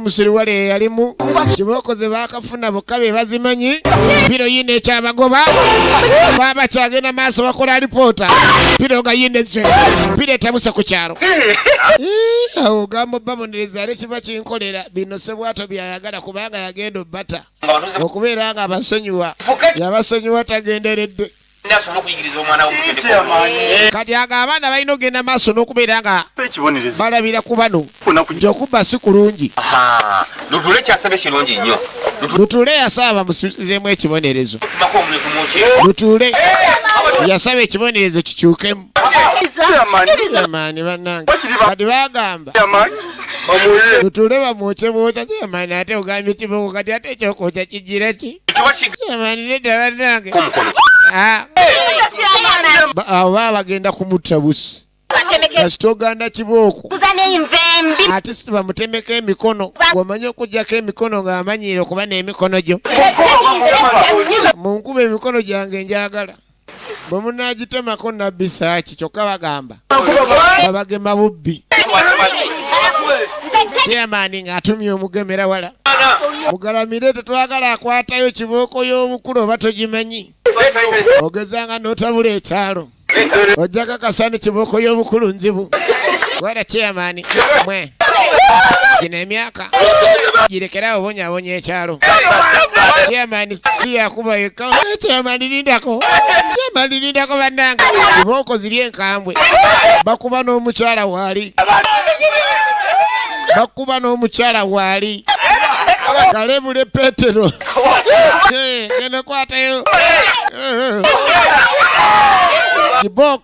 musiriwale yeyalimu kibookoze bakafuna bokka be bazimanyi piro yina ekyabagoba baba kyagenda maaso bakola alipoota piro nga yina eze piro etabuse ku kyalo awo ogamba obabonereza ale kiba kinkolera bino sebwato byayagala kubanga yagenda obata okubeera nga abasonyiwa yabasonyiwa tagenderedde asobole okuyigiriza omwana eh. kati ago abaana balina okugenda maaso n'okubeera nga balabira ku bano nti okubba si kulungi lutule kyasabye kirungi nnyo lutule yasaba bamusuzizeemu ekibonerezo lutule eh, yasaba ekibonerezo kikyukemu Chairman banange. Kati bagamba. Chairman. Bamuye. Tutule bamwoche bwota chairman ate ogambye kiboko kati ate ekyokwokya kijjira ki? Chairman leta banange. Kumukono. Ah. Abo baba bagenda kumutta busi. kasita oganda kibooko ate sibamutemeko emikono wamanyi okujjako emikono ng'amanyiire okuba n'emikono gyo munkuba emikono gyange njagala bwe munaagitemako nabbi saaki kyokka bagamba babagema bubbi chairman ng'atumye omugemera wala mugalamire tetwagala akwatayo kibooko y'obukulu oba togimanyi ogezanga n'otabula ekyalo ojja kakasa ni kibooko y'obukulu nzibu wala chairman mwe gino emyaka girekerawo bonyabonya ekyalo chairman si yakuba yekka naye chairman lindako chairman lindako bannange kibooko ziri enkambwe bakuba n'omukyala waali bakuba n'omukyala waali kalebule petero Eh, eno kwatayo Eh, eh. kibooko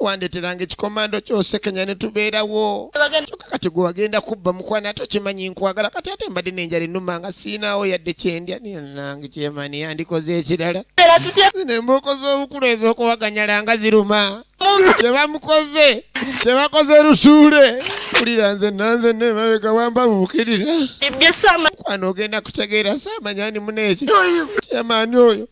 wandeteranga ekikomando kyosekenya netubeerawo kyoka kati gwe wagenda kubba mukwana ate okimanyi nkwagala kati ate mbadde nenjala enuma nga siinawo yadde kyendya nange kyemani yandikoze ekirala nembuuko z'obukulu ez'okuwaganyala nga ziruma kyebamukoze kyebakoze lusuule kulira nze nanze nemabega wamba bukirira kwana ogenda kutegeera samanyani muneeki kyemani oyo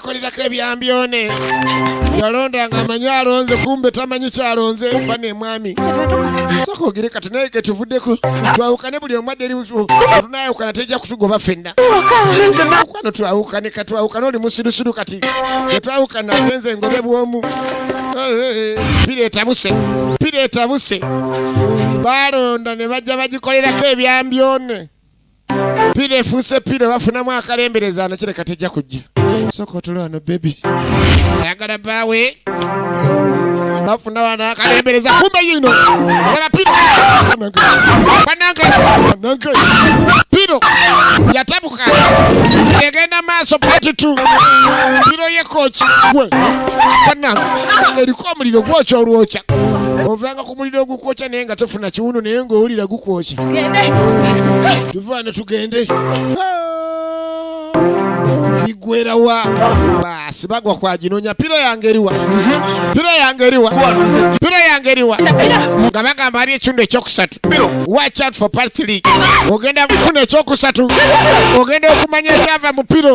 akolerako ebyambyone yalonda nga amanyi alonze kumbe tamanyi kyalonze fa nemwami soka ogere kati naye ketuvuddeko twawukane buli omu adde tunayawukana tejja kutugoba fenna kwano twawukane katwawukane oli musirusiru kati etwawukana ate nze ngobe bwomu pira etabuse pira etabuse balonda ne bajja bagikolerako ebyambyone pira efuuse pira bafunamu akalembereza ano kireka tejja kujja soka otula wano bebi ayagala baawe bafuna wano akalembereza kumbe yino yaba piro banange banange piro yatabuka egenda maaso pati tu piro yekoki gwe banange eriko omuliro gwokya olwokya ovanga ku muliro ogukwokya naye nga tofuna kiwundu naye ng'owulira gukwokya tuvaano tugende bigwerawa baasi bagwa kwaginonya pira yange eriwa pira yange eriwa pira yange eriwa nga bagamba ali ekitundu ekyokusatu watch out for part 3 ogenda kufuna ekyokusatu ogenda okumanya ekyava mu piro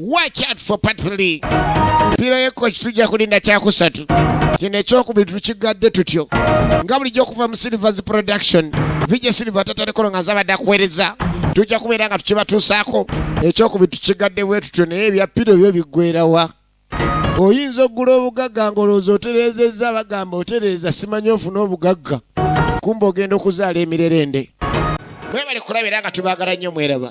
watch out for part 3 pira yekko kitujja kulinda kyakusatu kino ekyokubiri tukigadde tutyo nga bulijjo okuva mu silvers production vije silver tatalekolo nga zabadde akuweereza tujja kubeera nga tukibatuusaako ekyokubiri tukigadde bwe tutyo naye ebya piro byo biggwerawa oyinza okugula obugagga ng'olowooza otereezezza bagamba otereeza simanyi ofuna obugagga kumba ogenda okuzaala emirerende webale kulaba era nga tubaagala nnyo mweraba